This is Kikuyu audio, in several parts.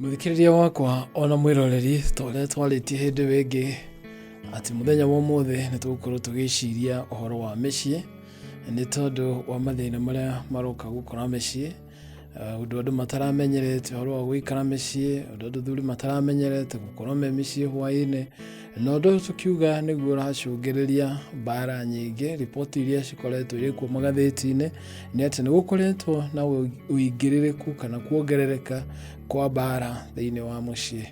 Mũthikĩrĩria wakwa ona mwĩroreri ta ũrĩa twarĩtie hĩndĩ ĩyo ĩngĩ atĩ mũthenya wa ũmũthĩ nĩ tũgũkorwo tũgĩciria ũhoro wa mĩciĩ nĩ tondũ wa mathĩna marĩa maroka gũkora mĩciĩ Eh, ũndũ andũ mataramenyerete ũhoro wa gũikara mĩciĩ ũndũ andũ thuri mataramenyerete gũkorwo me mĩciĩ hwaĩ-inĩ na ũndũ ũyũ tũkiuga nĩguo ũracũngĩrĩria mbara nyingĩ riboti iria cikoretwo irĩ kuo magathĩti-inĩ nĩ atĩ nĩ gũkoretwo na ũingĩrĩrĩku kana kuongerereka kwa mbara thĩinĩ wa mũciĩ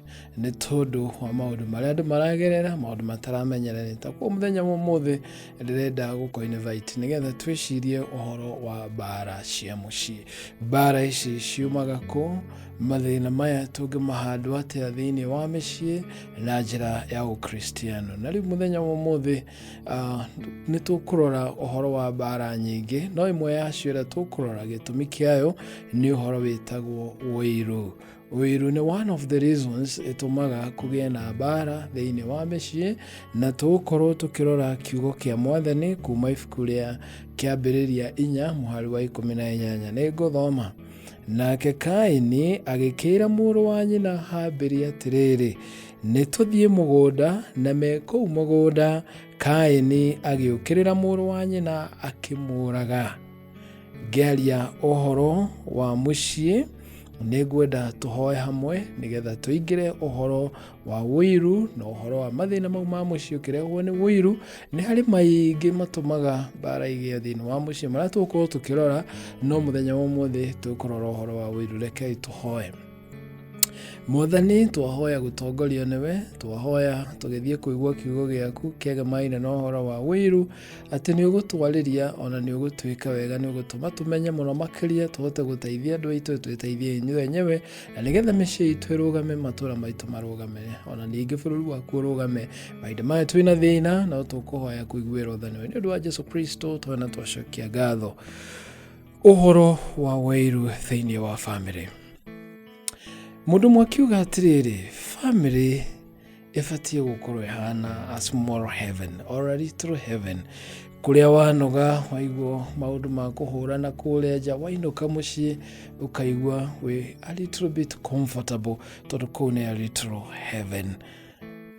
nĩ tondũ wa maũndũ marĩa andũ maragerera maũndũ mataramenyererĩta kwa mũthenya wa ũmũthĩ ndĩrenda gũkũ invite nĩgetha twĩcirie ũhoro wa mbara cia mũciĩ mbara ici ciumaga kũ Mathĩna maya tũngĩmahandwo atĩa thĩinĩ wa mĩciĩ na njĩra ya Ũkristiano. Na rĩu mũthenya wa ũmũthĩ ah, nĩ tũkũrora ũhoro wa mbaara nyingĩ, no ĩmwe yacio ĩrĩa tũkũrora gĩtũmi kĩayo nĩ ũhoro wĩtagwo ũiru. Ũiru nĩ one of the reasons ĩtũmaga kũgĩe na mbaara thĩinĩ wa mĩciĩ, na tũgũkorwo tũkĩrora kiugo kĩa mwathani kuma ibuku rĩa kĩambĩrĩria inya mũhari wa ikũmi na inyanya. Nĩ ngũthoma. Nake Kaini agĩkĩĩra mũrũ wa nyina Habili atĩrĩrĩ, nĩ tũthiĩ mũgũnda, na me kũu mũgũnda, Kaini agĩũkĩrĩra mũrũ wa nyina akĩmũũraga. Ngĩaria ũhoro wa mũciĩ, nĩ ngwenda tũhoe hamwe nĩgetha tũingĩre ũhoro wa wũiru na ũhoro wa mathĩna mau ma mũciĩ ũkĩrehwo nĩ wũiru nĩ harĩ maingĩ matũmaga mbara igĩe thĩinĩ wa mũciĩ marĩa tũgũkorwo tũkĩrora no mũthenya wa ũmũthĩ tũkũrora ũhoro wa wũiru rekei tũhoe mwathani twahoya gũtongorio nĩwe twahoya tũgĩthiĩ kũigua kiugo gĩaku kĩagemaine na ũhoro wa wĩiru atĩ nĩ ũgũtwarĩria ona nĩ ũgũtwĩka wega nĩ ũgũtũma tũmenye mũno makĩria tũhote gũteithia andũ aitũ twĩteithie inyuĩ enyewe na nĩgetha mĩciĩ itũ ĩrũgame matũra maitũ marũgame ona ningĩ bũrũri waku ũrũgame mahinda maya twĩ na thĩna no tũkũhoya kũiguĩra ũthanio nĩ ũndũ wa jesu kristo twena twacokia ngatho ũhoro wa wairu thĩinĩ wa bamĩrĩ mũndũ ũmwe akiuga atĩrĩrĩ bamĩrĩ ĩbatiĩ gũkorwo ĩhana a small heaven or a little heaven kũrĩa wanoga waigua maũndũ ma kũhũra na kũrĩa nja wainũka mũciĩ ũkaigua wĩ a little bit comfortable tondũ kũu nĩ a little heaven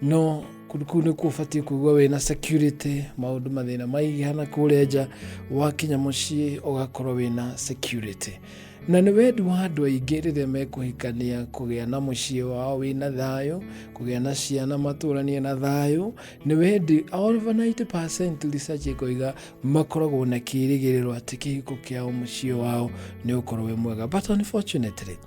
no kũndũ kũu nĩkuo ũbatiĩ kũigua wĩna security maũndũ mathĩna maigana kũrĩa nja wakinya mũciĩ ũgakorwo wĩna security na nĩ wendi wa andũ aingĩ rĩrĩa mekũhikania kũgĩa na mũciĩ wao wĩna thayũ kũgĩa na ciana matũranie na thayũ nĩ wendi over 90% research ĩkoiga makoragwo na kĩrĩgĩrĩro atĩ kĩhiko kĩao mũciĩ wao nĩ ũkorwo wĩ mwega but unfortunately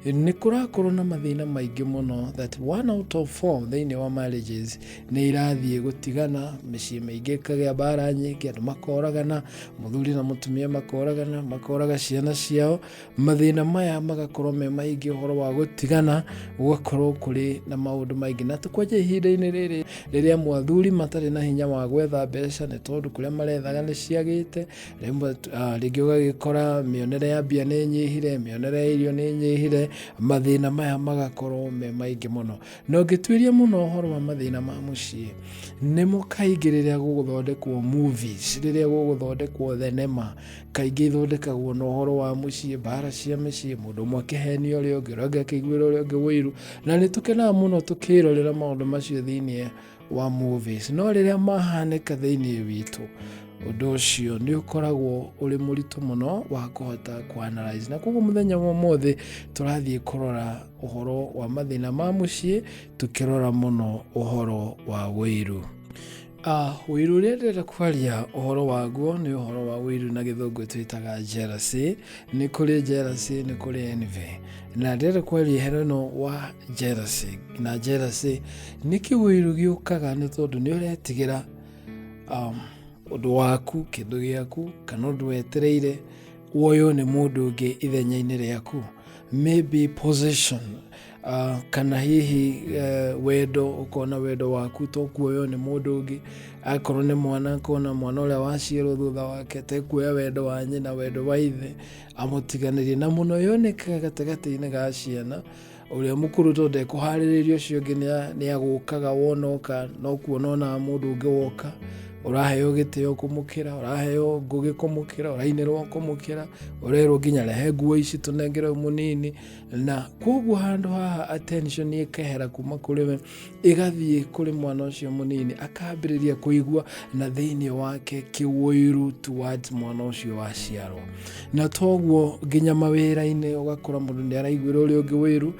nĩ kũrakorwo na mathĩna maingĩ mũno that one out of four thĩinĩ wa marriages nĩ irathiĩ gũtigana mĩciĩ mĩingĩ ĩkagĩa mbara nyingĩ andũ makoragana mũthuri na mũtumia makoragana makoraga ciana ciao mathĩna maya magakorwo me maingĩ ũhoro wa gũtigana gũgakorwo kũrĩ na maũndũ maingĩ na tũkwanja ihinda-inĩ rĩrĩ rĩrĩa mwathuri matarĩ na hinya wa gwetha mbeca nĩ tondũ kũrĩa marethaga nĩ ciagĩte rĩmwe ah, rĩngĩ ũgagĩkora mĩonere ya mbia nĩ nyihire mĩonere ya irio nĩ nyihire mathĩna maya magakorwo me maingĩ mũno Na ũngĩtuĩria mũno ũhoro wa mathĩna ma mũciĩ, nĩmo kaingĩ rĩrĩa gũgũthondekwo movies, rĩrĩa gũgũthondekwo thenema, kaingĩ ithondekagwo na ũhoro wa mũciĩ, mbara cia mĩciĩ, mũndũ ũmwe akĩhenia ũrĩa ũngĩ, ũrĩa ũngĩ akĩiguĩra ũrĩa ũngĩ ũiru, na nĩ tũkenaga mũno tũkĩrorera maũndũ macio thĩinĩ wa movies, no rĩrĩa mahanĩka thĩinĩ witũ, ũndũ ũcio nĩ ũkoragwo ũrĩ mũritũ mũno wa kũhota kũanalyze na koguo mũthenya wa ũmũthĩ tũrathiĩ kũrora ũhoro wa mathĩna ma mũciĩ tũkĩrora mũno ũhoro wa wĩiru Ah, wĩiru ũrĩa ndĩrenda kwaria ũhoro waguo nĩ ũhoro wa wĩiru na gĩthũngũ twĩtaga jealousy nĩ kũrĩ jealousy nĩ kũrĩ envy na ndĩrenda kwaria ũhoro ĩno wa jealousy na jealousy nĩ kĩwĩiru gĩũkaga nĩ tondũ nĩ ũretigĩra um, ũndũ waku kĩndũ gĩaku kana ũndũ wetereire woywo nĩ mũndũ ũngĩ ithenya-inĩ rĩaku maybe possession uh, kana hihi uh, wendo ukona wendo waku to kuoyo nĩ mũndũ ũngĩ akorwo nĩ mwana akona mwana ũrĩa waciarwo thutha wake tekuoya wendo wa nyina wendo wa ithe amũtiganĩrie na mũno yonekaga gatagatĩ-inĩ ga ciana ũrĩa mũkũrũ to ndekũharĩrĩria ũcio ũngĩ nĩ agũkaga wonoka no kuona onaga mũndũ ũngĩ woka ũraheo gĩtĩo kũmũkĩra ũraheo ngũgĩ kũmũkĩra ũrainĩrwo kũmũkĩra ũrerwo nginya rehe nguo ici tũnengere mũnini na koguo handũ haha attention ĩkehera kuma kũrĩ we ĩgathiĩ kũrĩ mwana ũcio mũnini akambĩrĩria kũigua na thĩinĩ wake kĩwũiru towards mwana ũcio waciarwo na toguo nginya mawĩra-inĩ ũgakora mũndũ nĩ araiguĩra ũrĩa ũngĩ wĩru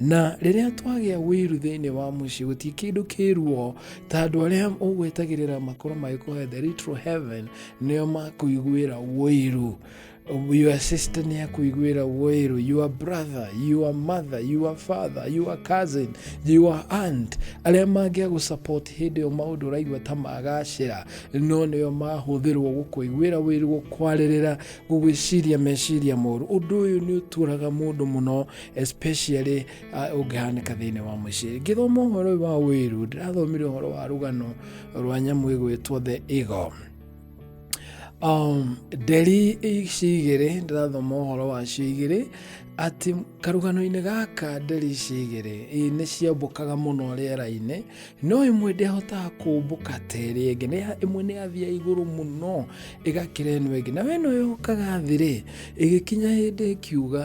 na rĩrĩa twagĩa wĩru thĩinĩ wa mũciĩ gũtirĩ kĩndũ kĩruo ta andũ arĩa ũgwetagĩrĩra makorwo magĩkũhe the little heaven nĩo makũiguĩra wĩru your sister nĩ akũiguĩra wĩru your brother your mother your father your cousin your aunt arĩa mangĩa gũsupport hĩndĩ ĩyo maũndũ ũraigua ta magacĩra no nĩo mahũthĩrwo gũkũiguĩra wĩru gũkwarĩrĩra gũgwĩciria meciria moru ũndũ ũyũ nĩ ũtũraga mũndũ mũno especially uh, ũngĩhanĩka thĩinĩ wa mũciĩ ngĩthoma ũhoro ũyũ wa wĩru ndĩrathomire ũhoro wa rũgano rwa nyamũ ĩgwĩtwo the eagle um, nderi ici igĩrĩ ndĩrathoma ũhoro wacio igĩrĩ atĩ karũgano-inĩ gaka nderi ici igĩrĩ ĩ, nĩ ciambũkaga mũno rĩera-inĩ no ĩmwe ndĩahotaga kũmbũka ta ĩrĩa ĩngĩ Nĩ- ĩmwe nĩ yathiaga igũrũ mũno ĩgakĩra ĩno ĩngĩ na weno yokaga thĩ-rĩ ĩgĩkinya hĩndĩ ĩkiuga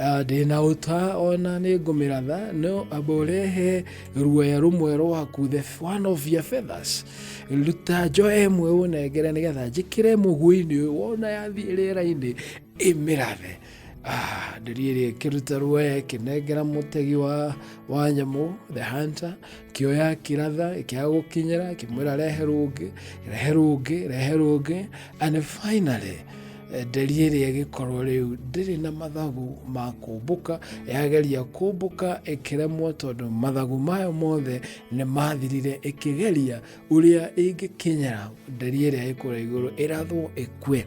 Ah, ndĩ na ũta ona nĩ ngũmĩratha no amba ũrehe ruoya rũmwe rwaku the f- one of your feathers ruta njoya ĩmwe ũnengere nĩgetha njĩkĩre mũguĩ-inĩ ũyũ wona yathiĩ rĩera-inĩ ĩmĩrathe Ah, ndĩri ĩrĩa ĩkĩruta ruoya ĩkĩnengera mũtegi wa, wa nyamũ the hunter kĩoya kĩratha ĩkĩaga gũkinyĩra kĩmwĩra rehe rũngĩ rehe rũngĩ rehe rũngĩ and finally Eh, nderi ĩrĩa ĩgĩkorwo rĩu ndĩrĩ na mathagu ma kũmbũka yageria kũmbũka ĩkĩremwo tondũ mathagu mayo mothe nĩ mathirire ĩkĩgeria ũrĩa ĩngĩkinyĩra nderi ĩrĩa ĩkũra igũrũ ĩrathwo ĩkue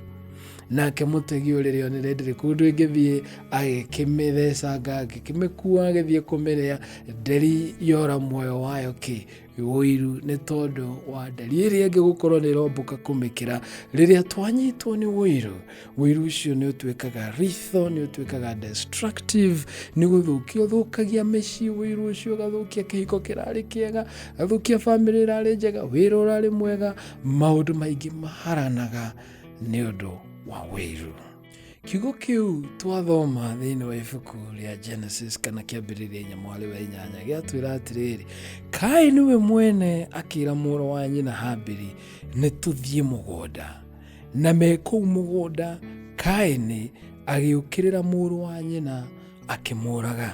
nake mũtegi ũyũ rĩrĩa onire ndĩrĩ kũndũ ĩngĩthiĩ agĩkĩmĩthecanga agĩkĩmĩkua agĩthiĩ kũmĩrĩa nderi yora muoyo wayo kĩ ũiru nĩ tondũ wa ndari ĩrĩa ĩngĩ gũkorwo nĩ ĩrombũka kũmĩkĩra rĩrĩa twanyitwo nĩ ũiru ũiru ũcio nĩ ũtuĩkaga ritho nĩ ũtuĩkaga destructive nĩ gũthũkia ũthũkagia mĩciĩ ũiru ũcio ũgathũkia kĩhiko kĩrarĩ kĩega ũgathũkia bamĩrĩ ĩrarĩ njega wĩra ũrarĩ mwega maũndũ maingĩ maharanaga nĩ ũndũ wa ũiru kiugo kĩu twathoma thĩinĩ wa ibuku rĩa genesis kana kĩambĩrĩria inya mwarĩ wa inyanya gĩatwĩra atĩrĩrĩ kaĩ nĩwe mwene akĩra mũrũ wa nyina hambĩri nĩ tũthiĩ mũgũnda na me kũu mũgũnda kaĩnĩ agĩũkĩrĩra mũrũ wa nyina akĩmũraga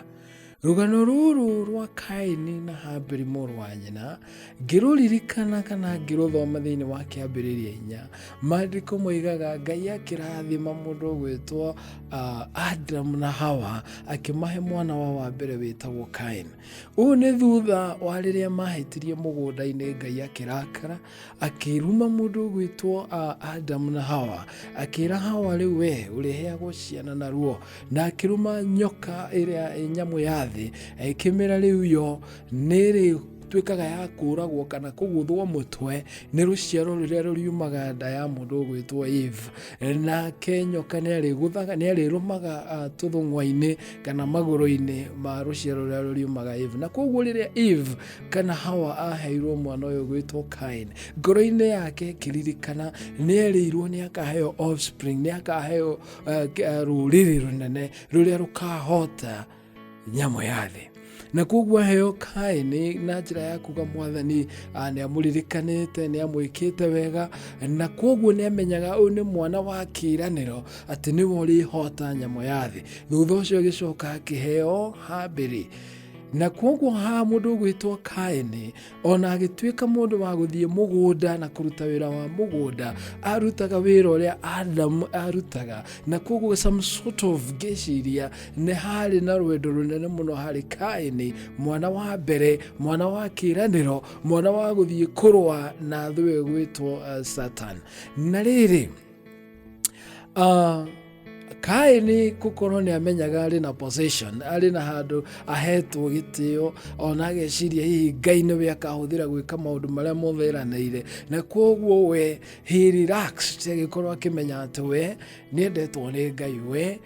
rũgano rũrũ rwa kaini na haberi mũrũ wa nyina ngĩrũririkana kana ngĩrũthoma thĩinĩ wa kĩambĩrĩria inya maandĩko moigaga ngai akĩrathima mũndũ ũgwĩtwo ah, adamu na hawa akĩmahe mwana wa wa mbere wĩtagwo kaini ũũ nĩ thutha wa rĩrĩa mahĩtirie mũgũnda-inĩ ngai akĩrakara akĩruma mũndũ ũgwĩtwo ah, adamu na hawa akĩra hawa rĩu we ũrĩheagwo ciana na ruo na akĩruma nyoka ĩrĩa eh, nyamũ ya thĩ ĩkĩmĩra rĩu yo nĩrĩ tuĩkaga ya kũragwo kana kũgũthwo mũtwe nĩ rũciaro rũrĩa rũriumaga nda ya mũndũ ũgwĩtwo eve nake nyoka nĩ arĩgũthaga nĩ arĩrũmaga ah, tũthũng'wa-inĩ kana magũrũ-inĩ ma rũciaro rũrĩa rũriumaga eve na koguo rĩrĩa eve kana hawa aheirwo mwana ũyũ gwĩtwo kain ngoro-inĩ yake kĩririkana nĩ erĩirwo nĩ akaheo offspring nĩ akaheo eh, k- eh, rũrĩrĩ rũnene rũrĩa rũkahota nyamũ ya thĩ na koguo aheo kaini na njĩra ya kuga mwathani ah, nĩ amũririkanĩte nĩ amwĩkĩte wega na koguo nĩ amenyaga ũyũ nĩ mwana wa kĩĩranĩro atĩ nĩwe ũrĩhota nyamũ ya thĩ thutha ũcio agĩcoka akĩheo hambĩrĩ na kwoguo haha mũndũ ũgwĩtwo kaini ona agĩtuĩka mũndũ wa gũthiĩ mũgũnda na kũruta wĩra wa mũgũnda arutaga wĩra ũrĩa adamu arutaga na kwoguo some sort of ngĩciria nĩ harĩ na rwendo rũnene mũno harĩ kaini mwana wa mbere mwana wa kĩranĩro mwana wa gũthiĩ kũrũa na thũ ĩgwĩtwo uh, satan na rĩrĩ Ah, kaĩ nĩ gũkorwo nĩ amenyaga arĩ na possession arĩ na handũ ahetwo gĩtĩo ona ageciria hihi ngai nĩwe akahũthĩra gwĩka maũndũ marĩa mothe eranĩire na kwoguo we he relaxed agĩkorwo akĩmenya atĩ we nĩendetwo nĩ ngai we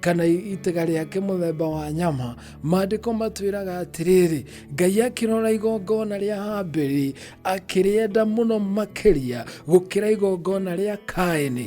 kana itega rĩake mũthemba wa nyama maandĩko matwĩraga atĩrĩrĩ ngai akĩrora igongona rĩa hambĩrĩ akĩrĩenda mũno makĩria gũkĩra igongona rĩa kaĩnĩ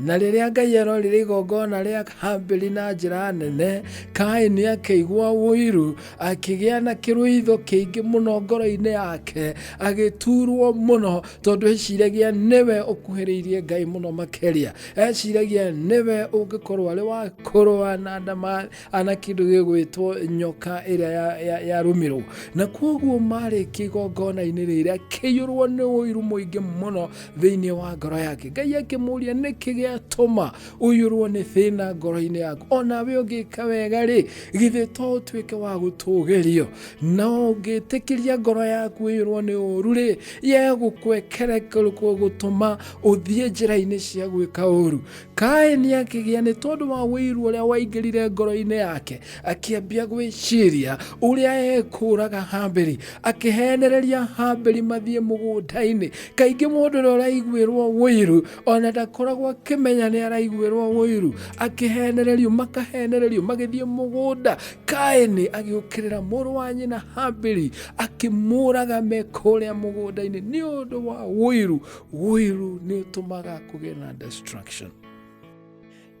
na rĩrĩa ngai arorire igongona rĩa hambĩri na njĩra nene kaini akĩigua ũiru akĩgĩa na kĩrũitho kĩingĩ mũno ngoro-inĩ yake agĩturwo mũno tondũ eciragia nĩwe ũkuhĩrĩirie ngai mũno makĩria eciragia nĩwe ũngĩkorwo arĩ wa kũrũa na ndama ana kĩndũ gĩgwĩtwo nyoka ĩrĩa ya- ya- yarũmĩrwo na kwoguo marĩkia igongona-inĩ rĩrĩa kĩiyũrwo nĩ ũiru mũingĩ mũno thĩinĩ wa ngoro yake ngai akĩmũria nĩkĩ gĩatũma ũiyũrwo nĩ thĩna ngoro-inĩ yaku ona we ũngĩka wega rĩ githĩ to ũtuĩke wa gũtũgĩrio na ũngĩtĩkĩria ngoro yaku ĩiyũrwo nĩ ũru rĩ yegũkwekere gũtũma ũthiĩ njĩra-inĩ cia gwĩka ũũru kaini akĩgĩa nĩ tondũ wa wĩiru ũrĩa waingĩrire ngoro-inĩ yake akĩambia gwĩciria ũrĩa ekũraga hambĩri akĩhenereria hambĩri mathiĩ mũgũnda-inĩ kaingĩ mũndũ ũrĩa ũraiguĩrwo wĩiru ona ndakoragwo akĩmenya nĩ araiguĩrwo wĩiru akĩhenererio makahenererio magĩthiĩ mũgũnda kaini agĩũkĩrĩra mũrũ wa nyina hambĩri akĩmũraga mekũrĩa mũgũnda-inĩ nĩ ũndũ wa wĩiru ũiru nĩ ũtũmaga kũgĩa na destruction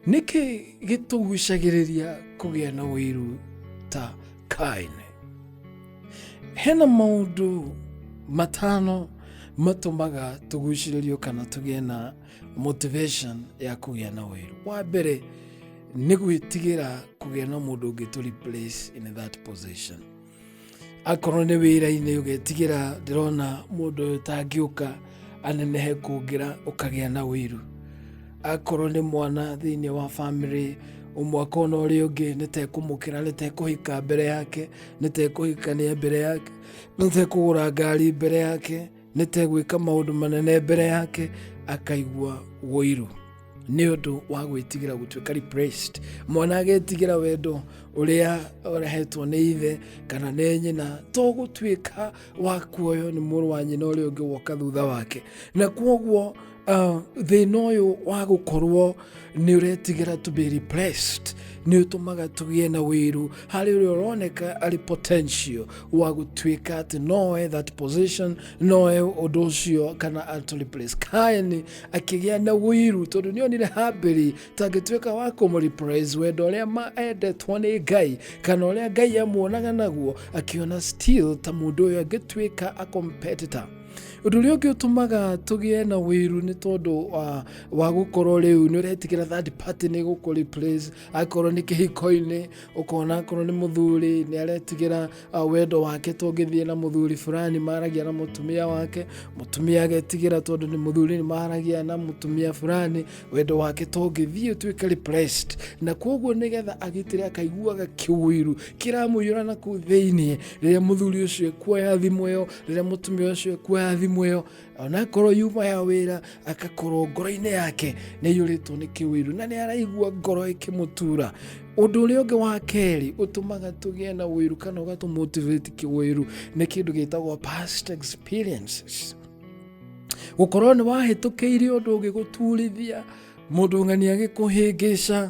nĩkĩ gĩtũgucagĩrĩria kũgĩa na ũiru ta kaini hena maũndũ matano matũmaga tũgucĩrĩrio kana tũgĩe na motivation ya kũgĩa na ũiru wa mbere nĩ gwĩtigĩra kũgĩa na mũndũ ũngĩ tũ replace in that position akorwo nĩ wĩra-inĩ ũgetigĩra ndĩrona mũndũ ũyũ tangĩũka anenehe kũngĩra ũkagĩa na wĩru akorwo nĩ mwana thĩinĩ wa bamĩrĩ mwaka ona ũrĩa ũngĩ nĩtekũmũkĩra nĩtekũhika mbere yake nĩtekũhikania mbere yake nĩtekũgũra ngari mbere yake nĩtegwĩka maũndũ manene mbere yake akaigua woiru nĩ ũndũ wa gwĩtigĩra gũtuĩka repressed mwana agetigĩra wendo ũrĩa ũrehetwo nĩ ithe kana nĩ nyina to gũtuĩka wa kuoywo nĩ mũrũ wa nyina ũrĩa ũngĩ woka thutha wake na kwoguo Uh, thĩna ũyũ wa gũkorwo nĩ ũretigĩra to be repressed nĩ ũtũmaga tũgĩe na wĩru harĩ ũrĩa ũroneka arĩ potential wa gũtuĩka atĩ noe that position noe ũndũ ũcio kana atũ replace kaeni akĩgĩa na wĩru tondũ nĩ onire hambĩri tangĩtuĩka wa kũmũrepress wendo ũrĩa ma endetwo nĩ ngai kana ũrĩa ngai amuonaga naguo akĩona still ta mũndũ ũyũ angĩtuĩka a competitor Ũndũ ũrĩa ũngĩ ũtũmaga tũgĩe na wĩru nĩ tondũ wa, wa gũkorwo rĩu nĩ ũretigĩra third party nĩ gũkũ replace akorwo nĩ kĩhiko-inĩ ũkona akorwo nĩ mũthuri nĩ aretigĩra uh, wendo wake tũngĩthiĩ na mũthuri fulani maragia na mũtumia wake mũtumia agetigĩra tondũ nĩ mũthuri nĩ maragia na mũtumia fulani wendo wake tũngĩthiĩ tuĩke replaced na kwoguo nĩgetha agitĩre akaiguaga kĩwĩru kĩramũiyũra na kũu thĩinĩ rĩrĩa mũthuri ũcio kuoya thimũ ĩyo rĩrĩa mũtumia ũcio kuoya thimũ ĩyo onakorwo yuma ya wĩra agakorwo ngoro-inĩ yake nĩ ĩiyũrĩtwo nĩ kĩwĩru na nĩ araigua ngoro ĩkĩmũtura ũndũ ũrĩa ũngĩ wa kerĩ ũtũmaga tũgĩe na wĩru kana ũgatũmotivate kĩwĩru nĩ kĩndũ gĩtagwo past experiences gũkorwo nĩ wahĩtũkĩire ũndũ ũngĩgũturithia mũndũ ng'ani agĩkũhĩngĩca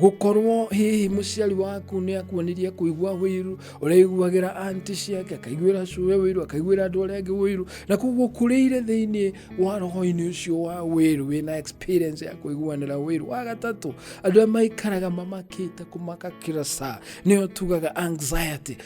gũkorwo hihi mũciari waku nĩ akuonirie kũigua wĩiru ũrĩiguagĩra anti ciake akaiguĩra cũwe wĩiru akaiguĩra andũ arĩa angĩ wĩiru na koguo kũrĩire thĩinĩ wa roho-inĩ ũcio wa wĩiru wĩna experience ya kũiguanĩra wĩiru wa gatatũ andũ arĩa maikaraga mamakĩte kũmaka kira saa nĩyo tugaga anxiety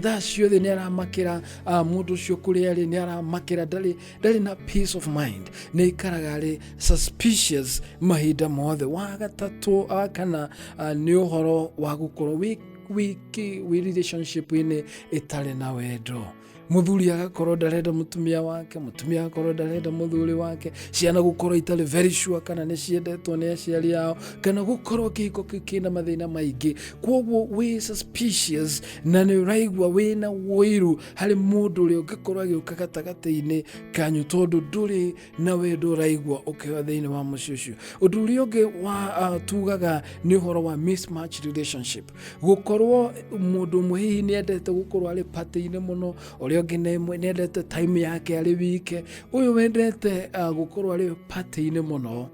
thaa ciothe nĩ aramakĩra ah, mũndũ ũcio kũrĩa arĩ nĩ aramakĩra ndarĩ ndarĩ na peace of mind nĩ ikaraga arĩ suspicious mahinda mothe wa gatatũ ah, kana ah, nĩ ũhoro wa gũkorwo wĩ wiki wĩ relationship-inĩ ĩtarĩ na wendo muthuri agakorwo ndarenda mutumia wake mutumia agakorwo ndarenda muthuri wake ciana gukorwo itari very sure kana ni ciendetwo ni aciari yao kana gukorwo kihiko kiu kina mathina maingi kwoguo wi suspicious na ni uraigua wina wuiru harĩ mũndũ ũrĩa ũngĩkorwo agĩũka gatagatĩ-inĩ kanyu tondũ ndũrĩ na wendo ũraigua ũkĩoya thĩinĩ wa mũciĩ ũcio ũndũ ũrĩa ũngĩ wa uh, tugaga nĩ ũhoro wa mismatch relationship gũkorwo mũndũ ũmwe hihi nĩ endete gũkorwo arĩ patĩ-inĩ mũno ũrĩa ũngĩ nĩ nĩ endete time yake arĩ wike ũyũ wendete uh, gũkorwo arĩ patĩ-inĩ mũno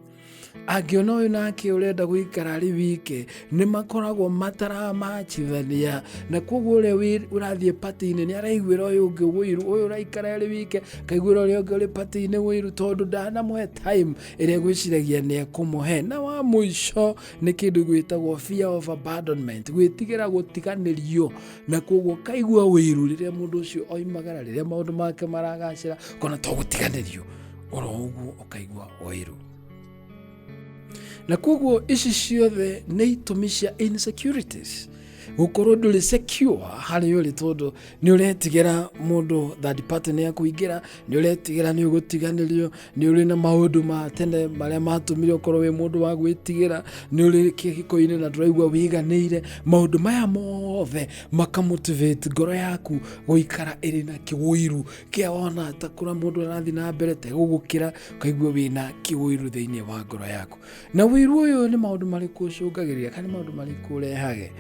angĩona ũyũ nake ũrenda gũikara arĩ wike nĩ makoragwo mataramacithania na koguo ũrĩa wĩ- ũrathiĩ pati-inĩ nĩ araiguĩra ũyũ ũngĩ wũiru ũyũ ũraikara arĩ wike akaiguĩra ũrĩa ũngĩ ũrĩ pati-inĩ wũiru tondũ ndanamũhe time ĩrĩa gwĩciragia nĩ ekũmũhe na wa mũico nĩ kĩndũ gwĩtagwo fear of abandonment gwĩtigĩra gũtiganĩrio na koguo kaigua wũiru rĩrĩa mũndũ ũcio oimagara rĩrĩa maũndũ make maragacĩra kona to gũtiganĩrio oro ũguo ũkaigua wairũ na koguo ici ciothe nĩ itũmi cia insecurities gũkorwo ndũrĩ secure harĩ ũrĩ tondũ nĩ ũretigĩra mũndũ third party nĩ akũingĩra nĩ ũretigĩra nĩ ũgũtiganĩrio nĩ ũrĩ na maũndũ ma tene marĩa matũmire ũkorwo wĩ mũndũ wa gwĩtigĩra nĩ ũrĩ kĩhiko-inĩ na ndũraigua wĩiganĩire maũndũ maya mothe makamotivate ngoro yaku gũikara ĩrĩ na kĩwũiru kĩa wona ta kũra mũndũ arathiĩ na mbere te gũgũkĩra ũkaigua wĩna kĩwĩru thĩinĩ wa ngoro yaku na wĩru ũyũ nĩ maũndũ marĩkũ ũcũngagĩrĩria kana nĩ maũndũ marĩkũ ũrehage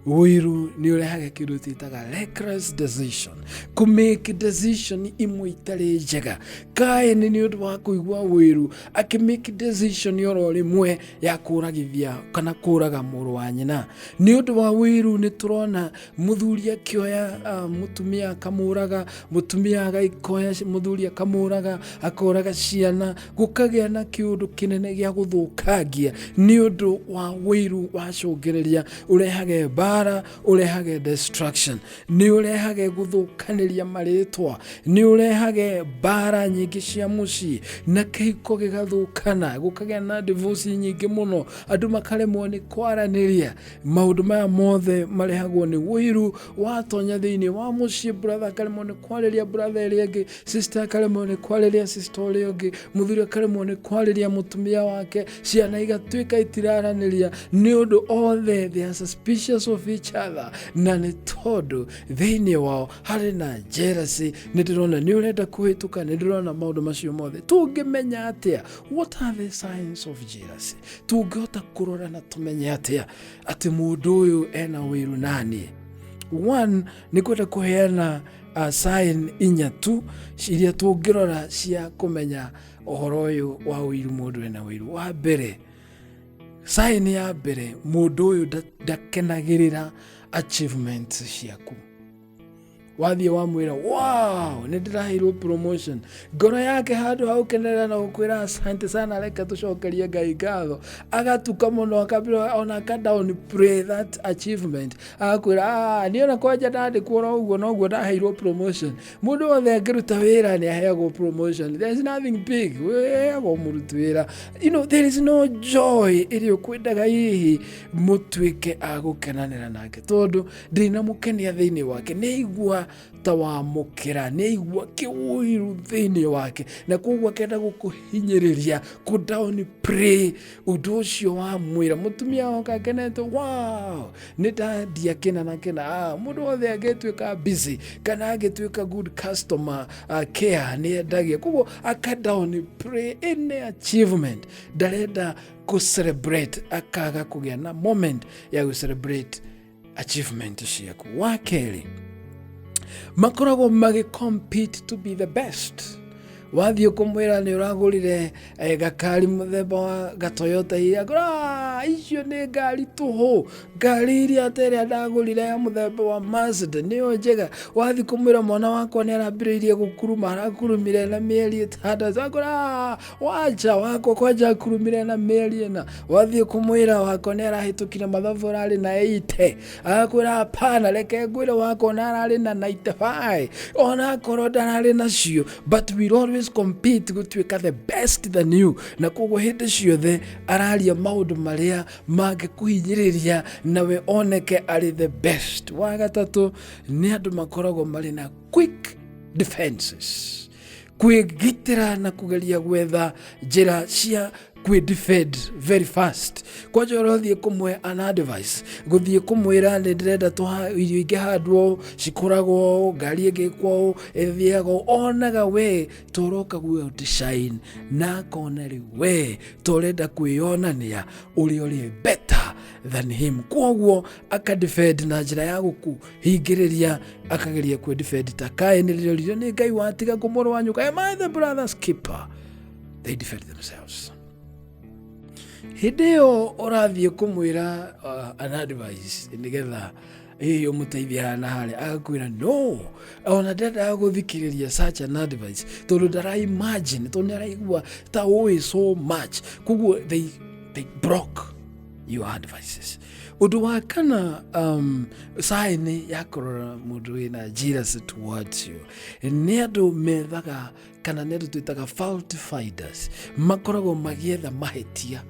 wĩru nĩ ũrehage kĩndũ twĩtaga reckless decision kũmake decision imwe itarĩ njega kaini nĩ ũndũ wa kũigua wĩru akĩmake decision oro rĩmwe ya kũragithia kana kũraga mũrũ wa nyina nĩ ũndũ wa wĩru nĩ tũrona muthuri akioya ah, mutumia akamuraga mutumia agaikoya ci- muthuri akamuraga akoraga ciana gukagĩa na kĩũndũ kĩnene gĩa gũthũkangia nĩ ũndũ wa wĩiru wacũngĩrĩria ũrehage mbara ũrehage destruction nĩ ũrehage gũthũkanĩria marĩtwa nĩ ũrehage mbara nyingĩ cia mũciĩ na kĩhiko gĩgathũkana gũkagĩa na divorce nyingĩ mũno andũ makaremwo nĩ kwaranĩria maũndũ maya mothe marehagwo nĩ ũiru watonya thĩinĩ wa mũciĩ bratha akaremwo nĩ kwarĩria bratha ĩrĩa ĩngĩ sista akaremwo nĩ kwarĩria sista ũrĩa ũngĩ mũthuri akaremwo nĩ kwarĩria mũtumia wake ciana igatuĩka itiraranĩria nĩ ũndũ othe they are suspicious of each other na nĩ tondũ thĩinĩ wao harĩ na jealousy nĩ ndĩrona nĩ ũrenda kũhĩtũka nĩ ndĩrona maũndũ macio mothe tũngĩmenya atĩa what are the signs of jealousy tũngĩhota kũrora na tũmenye atĩa atĩ mũndũ ũyũ ena wĩru naniĩ one nĩ kwenda kũheana uh, sign inya tu iria tũngĩrora cia kũmenya ũhoro ũyũ wa ũiru mũndũ ena ũiru wa mbere sign ya mbere mũndũ ũyũ nda- ndakenagĩrĩra achievements ciaku wathiĩ wamwĩra wow nĩ ndĩraheirwo promotion ngoro yake handũ ha gũkenerera na gũkwĩra asante sana reke tũcokerie ngai ngatho agatuka mũno akambĩra ona aka down pray that achievement agakwĩra "Ah, niĩ ona kwanja ndandĩkwo no ũguo noguo ndaheirwo promotion mũndũ wothe angĩruta wĩra nĩ aheagwo promotion there is nothing big wĩheagwo mũruti wĩra you know there is no joy ĩrĩa ũkwendaga hihi mũtuĩke a gũkenanĩra nake tondũ ndĩ na mũkenia thĩinĩ wake nĩ aigua ta wamũkĩra nĩ aigua kĩũiru thĩinĩ wake na koguo akenda gũkũhinyĩrĩria kũ down pray ũndũ ũcio wamwĩra mũtumia wake akenete wow nĩ dadi akena na kena ah, mũndũ wothe angĩtuĩka busy kana angĩtuĩka good customer uh, care nĩ endagia koguo aka down pray any achievement ndarenda kũ celebrate akaga kũgĩa na moment ya gũ celebrate achievement ciaku wa kerĩ makoragwo magĩ compete to be the best wathiĩ kũmwĩra nĩ ũragũrire eh, gakari mũthemba wa gatoyota iria ngũra "Ah, icio nĩ ngari tũhũ ngari iria atĩ ĩrĩa ndagũrire ya mũthemba wa mazda nĩyo njega wathiĩ kũmwĩra mwana wakwa nĩ arambĩrĩirie gũkuruma arakurumire na mĩeri ĩtandatũ ngũra wacha wako kwanja akurumire na mĩeri ĩna wathiĩ kũmwĩra wako nĩ arahĩtũkire mathabu ararĩ na eite akwĩra hapana reke ngwĩre wako na ararĩ na 95 ona akorwo ndararĩ nacio but will always compete gũtuĩka the best than you na koguo hĩndĩ ciothe araria maũndũ marĩa mangĩkũhinyĩrĩria nawe oneke arĩ the best wa gatatũ nĩ andũ makoragwo marĩ na quick defenses kwĩgitĩra na kũgeria gwetha njĩra cia kwĩ defend very fast kwanja ũrathiĩ kũmwe an advice gũthiĩ kũmwĩra nĩ ndĩrenda tũha- irio ingĩhandwo ũũ, cikoragwo ũũ, ngari ĩgĩkwo ũũ, ĩthiaga ũũ." onaga we toroka guo design na akona rĩu we torenda kwĩyonania ũrĩa ũrĩ better than him kwoguo akadefend na njĩra ya gũku hingĩrĩria akageria kwĩ defend ta kaĩ nĩ rĩrĩrio nĩ ngai watiga kũ mũrũ wa nyũka am I the brother's keeper they defend themselves hĩndĩ ĩyo ũrathiĩ kũmwĩra uh, an advice nĩgetha ĩyo mũteithia hana harĩa agakwĩra no ona ndendaga gũthikĩrĩria such an advice tondũ ndara imagine tondũ nĩ araigua ta ũĩ so much koguo they, they broke your advices Ũndũ wa kana um, saĩnĩ ya kũrora mũndũ wĩna Jesus towards you nĩ andũ methaga kana nĩ andũ twĩtaga fault finders makoragwo magĩetha mahĩtia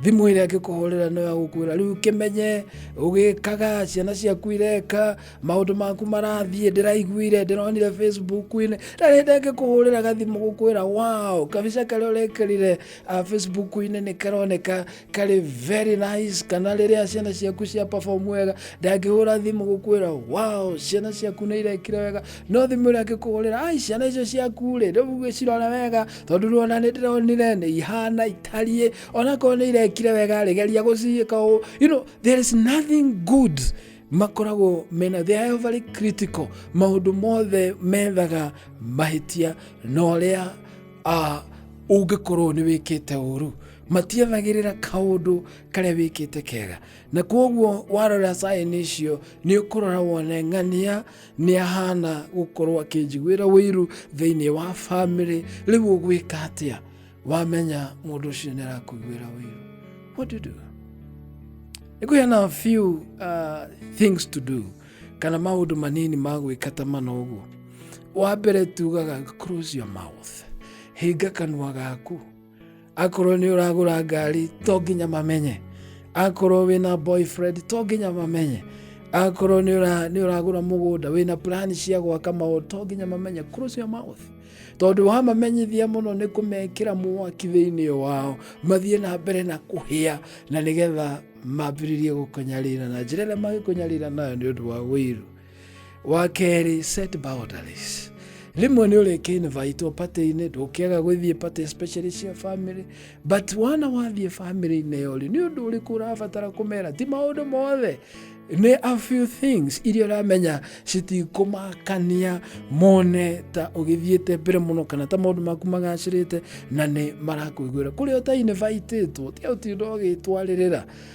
thimũ ĩrĩa angĩkũhũrĩra no yagũkwĩra rĩu kĩmenye ũgĩkaga ciana ciaku ireka maũndũ maku marathiĩ ndĩraiguire ndĩronire facebook-inĩ na rĩndĩ angĩkũhũrĩra gathimũ gũkwĩra wow kabica karĩa ũrekĩrire ah, facebook-inĩ nĩ karoneka kari very nice kana rĩrĩa ciana ciaku cia perform wega ndangĩhũra thimũ gũkwĩra wow ciana ciaku nĩ irekire wega no thimũ ĩrĩa angĩkũhũrĩra ai ciana icio ciaku rĩ rĩu gĩcirore wega tondũ ruona nĩ ndĩronire nĩ ihana itariĩ onakorwo nĩ irekire wega rĩ geria gũciĩka ũũ you know there is nothing good makoragwo mena they are very critical maũndũ mothe methaga mahĩtia na ũrĩa ah, ũngĩkorwo nĩ wĩkĩte ũru matianagĩrĩra kaũndũ karĩa wĩkĩte kega na kwoguo warora saĩni icio nĩ ũkũrora wone ng'ania nĩ ahana gũkorwo akĩnjiguĩra wĩiru thĩinĩ wa bamĩrĩ rĩu ũgwĩka atĩa wamenya mũndũ ũcio nĩ arakũiguĩra wĩiru what do you do nĩ kũheana a few uh, things to do kana maũndũ manini ma gwĩka ta mana ũguo wa mbere tugaga close your mouth hinga kanua gaku akorwo nĩ ũragũra ngari to nginya mamenye akorwo wĩna boyfriend to nginya mamenye akorwo nĩ ũra- nĩ ũragũra mũgũnda wĩna plan cia gwaka maũndũ to nginya mamenye close your mouth tondũ wamamenyithia mũno nĩ kũmekĩra mwaki thĩinĩ wao mathiĩ na mbere na kũhĩa na nĩgetha mambĩrĩrie gũkũnyarira na njĩra ĩrĩa mangĩkũnyarira nayo nĩ ũndũ wa wĩiru wa kerĩ set boundaries rĩmwe nĩ ũrĩ kĩnvaitwo patĩ-inĩ ndũkĩaga gũthiĩ patĩ especially cia family but wana wathiĩ family-inĩ ĩyo rĩ nĩ ũndũ ũrĩkũ ũrabatara kũmera ti maũndũ mothe nĩ a few things iria ũramenya citikũmakania mone ta ũgĩthiĩte mbere mũno kana ta maũndũ maku magacĩrĩte na nĩ marakũiguĩra kũrĩa ũtainĩvaitĩtwo tiga ũtinda ũgĩtwarĩrĩra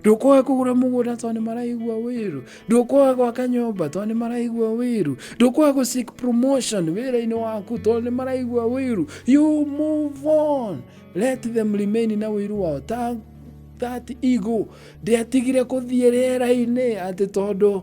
ndũkũhe kũgũra mũgũnda tondũ nĩ maraigua wĩru ndũkũhe gwaka nyũmba tondũ nĩ maraigua wĩru ndũkũhe gũ seek promotion wĩra-inĩ waku tondũ nĩ maraigua wĩru you move on let them remain na wĩru wao ta that ego ndĩatigire kũthiĩ rĩera-inĩ atĩ tondũ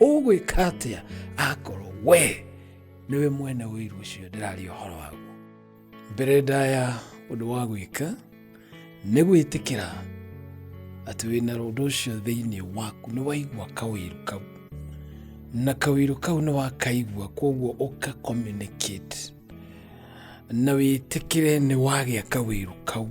ũgwĩka atĩa akorwo we nĩwe mwene ũiru ũcio ndĩraria ũhoro waguo mbere ndaya ũndũ wa gwĩka nĩ gwĩtĩkĩra atĩ wĩna ũndũ ũcio thĩinĩ waku nĩ waigua kawĩru kau na kawĩru kau nĩ wakaigua kwoguo ũka communicate na wĩtĩkĩre nĩ wagĩa kawĩru kau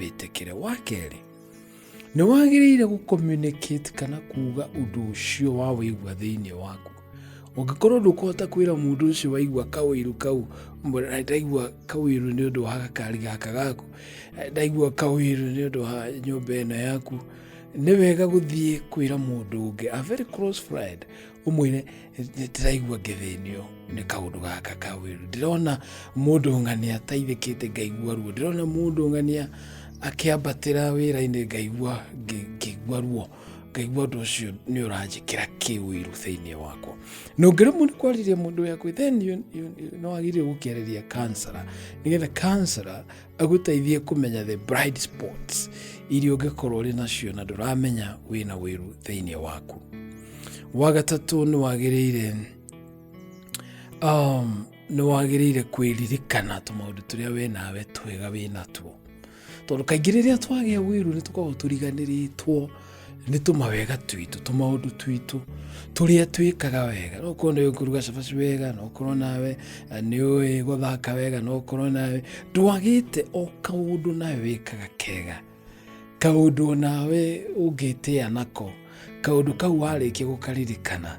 wĩtĩkĩre wa kerĩ nĩ wagĩrĩire gũcommunicate kana kuuga ũndũ ũcio wa wĩigua thĩinĩ waku ũngĩkorwo ndũkũhota kwĩra mũndũ ũcio waigua kawĩru kau mbona ndaigua kawĩru nĩ ũndũ wa gakari gaka gaku ndaigua kawĩru nĩ ũndũ wa nyũmba ĩno yaku nĩ wega gũthiĩ kwĩra mũndũ ũngĩ a very close friend ũmwĩre ndĩraigua ngĩthĩnio nĩ kaũndũ gaka ka wĩru ndĩrona mũndũ ng'ania ataithĩkĩte ngaigua ruo ndĩrona mũndũ ng'ania akĩambatĩra wĩra-inĩ ngaigua ngĩ- ngĩigua ruo ngaigua ũndũ ũcio nĩ ũranjĩkĩra kĩwĩru thĩinĩ wakwa na ũngĩremwo nĩ kwarĩria mũndũ wĩ hakuhĩ then you, you, you, no agĩrĩire gũkĩarĩria kansara nĩgetha kansara agũteithie kũmenya the bright spots iria ũngĩkorwo ũrĩ nacio na ndũramenya wĩna wĩru thĩinĩ waku wa gatatũ nĩ wagĩrĩire um, nĩ wagĩrĩire kwĩririkana tũmaũndũ tũrĩa we nawe twega wĩ natuo tondũ kaingĩ rĩrĩa twagĩa wĩru nĩ tũkoragwo tũriganĩrĩtwo nĩ tũmawega twitũ tũmaũndũ twitũ tũrĩa twĩkaga wega no korwo nĩ kũruga cabaci wega no korwo nawe eh, nĩ ũĩ gũthaka wega no korwo nawe ndwagĩte o kaũndũ nawe wĩkaga kega kaũndũ onawe ũngĩtĩa nako kaũndũ kau warĩkia gũkaririkana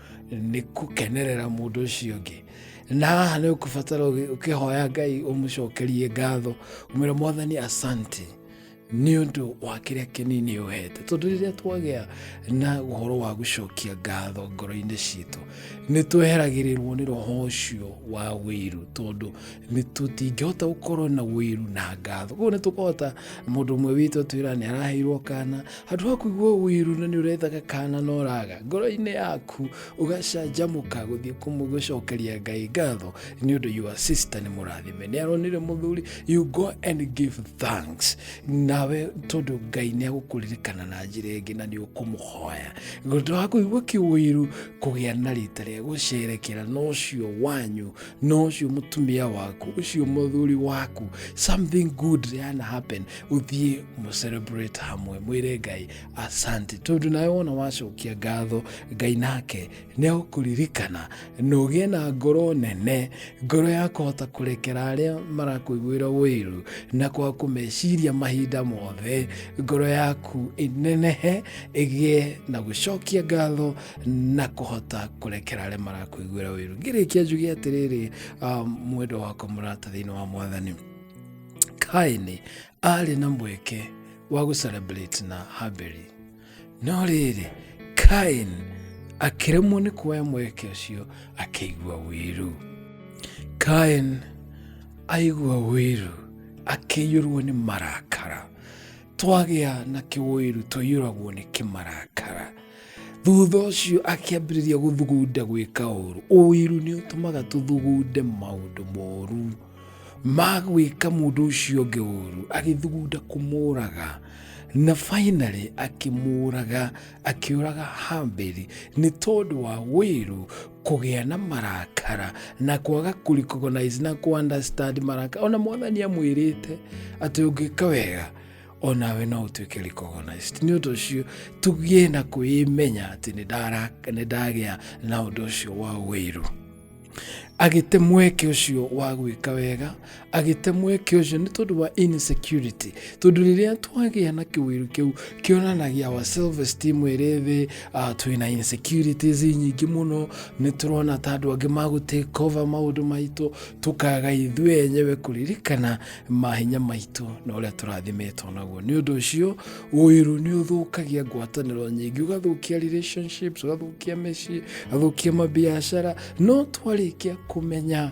nĩ kũkenerera mũndũ ũcio ũngĩ na haha nĩ ũkũbatara ũkĩhoya ngai ũmũcokerie ngatho ũmwĩra mwathani asante nĩ ũndũ wa kĩrĩa kĩnini ũhete tondũ rĩrĩa twagĩa na ũhoro wa gũcokia ngatho ngoro-inĩ citũ nĩ tweheragĩrĩrwo nĩ roho ũcio wa wĩiru tondũ nĩ tũtingĩhota gũkorwo na wĩru na ngatho koguo nĩ tũkũhota mũndũ ũmwe witũ atwĩra nĩ araheirwo kana handũ ha kũigua wĩru na nĩ ũrethaga kana na ũraga ngoro-inĩ yaku ũgacanjamũka gũthiĩ kũmũ- gũcokeria ngai ngatho nĩ ũndũ your sister nĩ mũrathime nĩ aronire mũthuri you go and give thanks nawe tondũ ngai nĩ agũkũririkana na njĩra ĩngĩ na nĩ ũkũmũhoya gũtũ wa kũigua kĩwĩru kũgĩa na rita rĩa gũcerekera na ũcio wanyu no ucio mutumia waku ucio muthuri waku something good yana happen uthie mu celebrate hamwe mwire ngai asante tondu nawe wona wacokia ngatho ngai nake ni akuririkana na ugie na ngoro nene ngoro ya kuhota kurekera aria marakuiguira wiru na kwa kumeciria mahinda mothe ngoro yaku inenehe igie na gucokia ngatho na kũhota kũrekera arĩa marakũiguĩra wĩru ngĩrĩkia njuge atĩrĩrĩ ah, mwendwa wakwa mũrata thĩinĩ wa mwathani kaini arĩ na mweke wa gũcelebrate na haberi no rĩrĩ kain akĩremwo nĩ kuoya mweke ũcio akĩigua wĩru kain aigua wĩru akĩiyũrwo nĩ marakara twagĩa na kĩwĩru tũiyũragwo nĩ kĩmarakara thutha ũcio akĩambĩrĩria gũthugunda gwĩka ũru ũiru nĩ ũtũmaga tũthugunde maũndũ moru ma gwĩka mũndũ ũcio ũngĩ ũru agĩthugunda kũmũraga na finally akĩmũraga akĩũraga hambeli nĩ tondũ wa wĩru kũgĩa na marakara na kwaga kũrecognize na kũunderstand marakara ona mwathani amwĩrĩte atĩ ũngĩka wega onawe no ũtuĩke recognized nĩ ũndũ ũcio tũgĩe na kwĩĩmenya atĩ nĩ ndara- nĩ ndagĩa na ũndũ ũcio wa wĩru agĩte mweke ũcio wa gwĩka wega agĩte mweke ũcio nĩ tondũ wa insecurity tondũ rĩrĩa twagĩa na kĩwĩru kĩu kĩonanagia wa self esteem ĩrĩ thĩ uh, twĩna insecurities nyingĩ mũno nĩ tũrona ta andũ angĩ magũtake cover maũndũ maitũ tũkaga ithuĩ enyewe kũririkana mahinya maitũ na ũrĩa tũrathimetwo naguo nĩ ũndũ ũcio ũiru nĩ ũthũkagia ngwatanĩro nyingĩ ũgathũkia relationships ũgathũkia mĩciĩ ũgathũkia mabiacara no twarĩkia kũmenya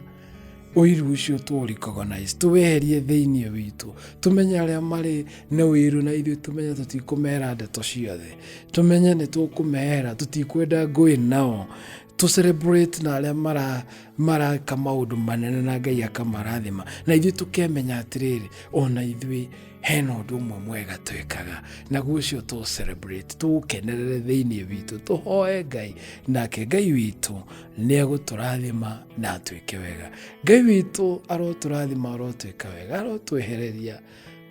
ũiru ũcio tũũrecognize tũweherie thĩinĩ witũ tũmenye arĩa marĩ na ũiru na ithuĩ tũmenye tũtikũmera ndeto ciothe tũmenye nĩ tũkũmehera tũtikwenda ngũĩ nao to celebrate na arĩa mara maraka maũndũ manene na ngai akamarathima na ithuĩ tũkemenya atĩrĩrĩ ona ithuĩ hena ũndũ ũmwe mwega twĩkaga naguo ũcio tũ celebrate tũũkenerere thĩinĩ witũ tũhoe ngai nake ngai witũ nĩ egũtũrathima na atwĩke wega ngai witũ arotũrathima arotwĩka wega arotwehereria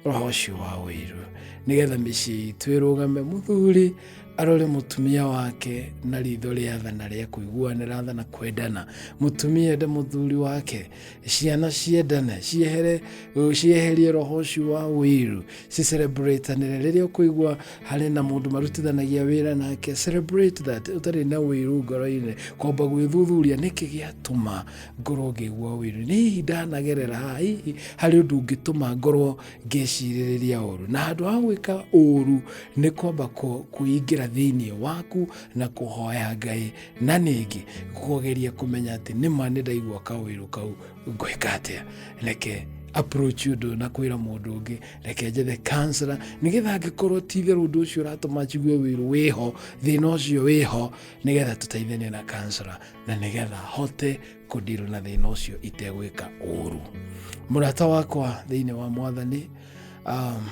roho ũcio wa ũiru nĩgetha mĩciĩ itũ ĩrũgame mũthuri arore mũtumia wake na ritho rĩa tha na rĩa kũiguanĩra tha na kwendana mũtumia ende mũthuri wake ciana ciendane ciehere cieherie roho ũcio wa ũiru cicelebratanĩre rĩrĩa ũkũigua harĩ na mũndũ marutithanagia wĩra nake celebrate that ũtarĩ na ũiru ngoro-inĩ kwamba gwĩthuthuria nĩkĩ gĩatũma ngorwo ngĩgua wĩru nĩ hihi ndanagerera haha hihi harĩ ũndũ ũngĩtũma ngorwo ngĩcirĩrĩria ũru na handũ ha gwĩka ũru nĩ kwamba kũ- kwĩingĩra thĩinĩ waku na kũhoya ngai na ningĩ kũgeria kũmenya atĩ nĩma nĩ ndaigua kawĩru kau ngwĩka atĩa reke approach ũndũ na kwĩra mũndũ ũngĩ reke njethe kansela nĩgetha angĩkorwo ti-itherũ ũndũ ũcio ũratũma njigue wĩru wĩho thĩna ũcio wĩho nĩgetha tũteithanie na kansela na nĩgetha hote kũndirwo na thĩna ũcio itegwĩka ũru mũrata wakwa thĩinĩ wa mwathani um,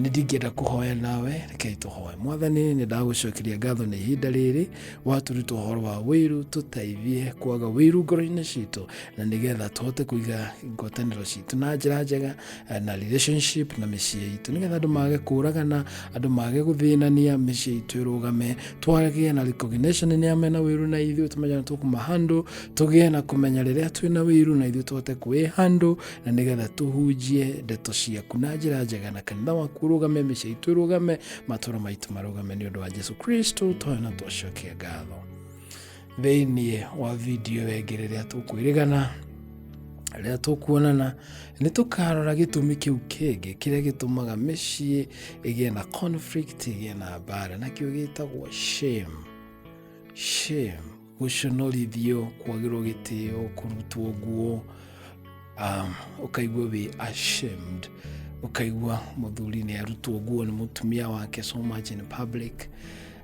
nĩ ndingĩenda kũhoya nawe rekei tũhoe mwathani nĩ ndagũcokeria ngatho nĩ ihinda rĩrĩ watũruta ũhoro wa wĩru tũteithie kwaga wĩru ngoro-inĩ citũ na nĩgetha tũhote kũiga ngwatanĩro citũ na njĩra njega eh, na relationship na mĩciĩ itũ nĩgetha andũ mage kũragana andũ mage gũthĩnania mĩciĩ itũ ĩrũgame twagĩe na recognition nĩ amena wĩru na ithuĩ tũmenya nĩ tũkũmahandũ tũgĩe na kũmenya rĩrĩa twĩna wĩru na ithuĩ tũhote kwĩhandũ na nĩgetha tũhunjie ndeto ciaku na njĩra njega na kanitha waku ũrũgame mĩciĩ itũ ĩrũgame matũra maitũ marũgame nĩ ũndũ wa jesu kristo twayo na twacokia ngatho thĩinĩ wa video ĩngĩ rĩrĩa tũkwĩrĩgana rĩrĩa tũkuonana nĩ tũkarora gĩtũmi kĩu kĩngĩ kĩrĩa gĩtũmaga mĩciĩ ĩgĩe na conflict ĩgĩe na mbara nakĩo gĩtagwo shame shame gũconorithio kwagĩrwo gĩtĩo kũrutwo nguo um, ũkaigua wĩ ashamed ũkaigua mũthuri nĩ arutwo nguo nĩ mũtumia wake so much in public